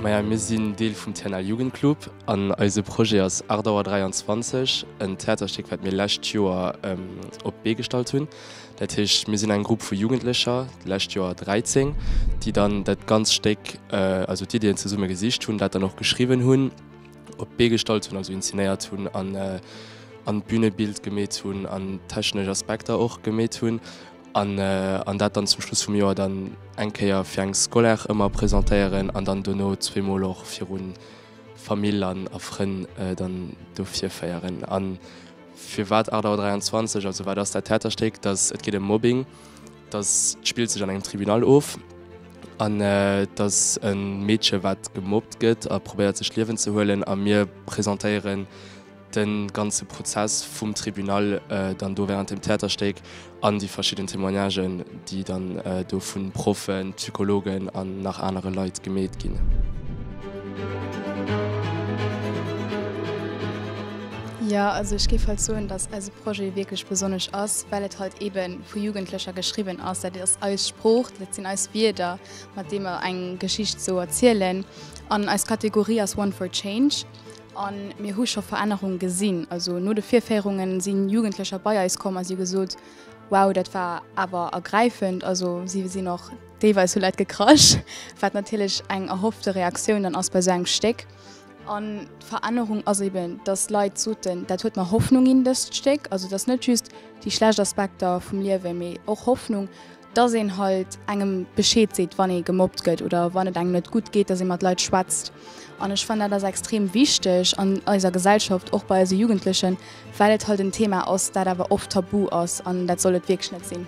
Maja mir sinn Deel vum TNL Jugendclub an eise Projet ass Ardauer 23, en Theaterstéck wat mir lescht Joer op d'Bee gestallt hunn. Dat heescht mir sinn eng Grupp vu Jugendlecher, d'lescht Joer 13, déi dann dat ganz Stéck, also d'Iddien zesumme gesicht hunn, dat dann och geschriwwen hunn, op d'Bee gestallt hunn, also inzenéiert hunn an an d'Bünebild gemeet hunn an technesch Aspekter och gemeet hunn an an dat dann zum Schluss vum Joer dann eng Kéier fir eng Scolaire ëmmer presentéieren an dann dono zweemol och virun Famill an a Frënn dann do virféieren. A firwat 8 Auer 23? Also wat ass dat Theaterstéck? Et geet ëm Mobbing Dass d'Spill sech an engem Tribunal of an dass e Meedche wat gemobbt gëtt a probéiert sech d'Liewen ze huelen a mir presentéieren de ganze Prozess vum Tribunal dann do während dem Theaterstéck an déi verschidden Témoignagen déi dann do vu Proffen, Psychologen an nach anere Leit gemeet ginn. vu Jugendlecher geschriwwen ass. Dat ass eis Sprooch, dat sinn eis Wierder, mat deem mer eng Geschicht sou erzielen. An eis Kategorie ass One for Change an mir hu scho Verännerung gesinn. Also no de Virféierunge sinn Jugendlecher bei eis komm a si hu gesot, wow, dat war awer ergräifend. Also si sinn och deelweis hu Leit gekrasch, wat natierlech eng erhoffte Reaktioun dann ass bei sou engem Stéck. An d'Verännerung ass eben, dass d'Leit soten, dat huet mer Hoffnung ginn, dëst Stéck. Also et ass net just déi schlecht Aspekter vum Liewen, mee och Hoffnung, dass een halt engem Bescheed seet, wann ee gemobbt gëtt oder wann et engem net gutt geet, dass ee mat Leit schwätzt. An ech fannen, dat ass extrem wichteg an eiser Gesellschaft, och bei eise Jugendlechen, well et halt en Thema ass, dat awer oft tabu ass. An dat soll et wierklech net sinn.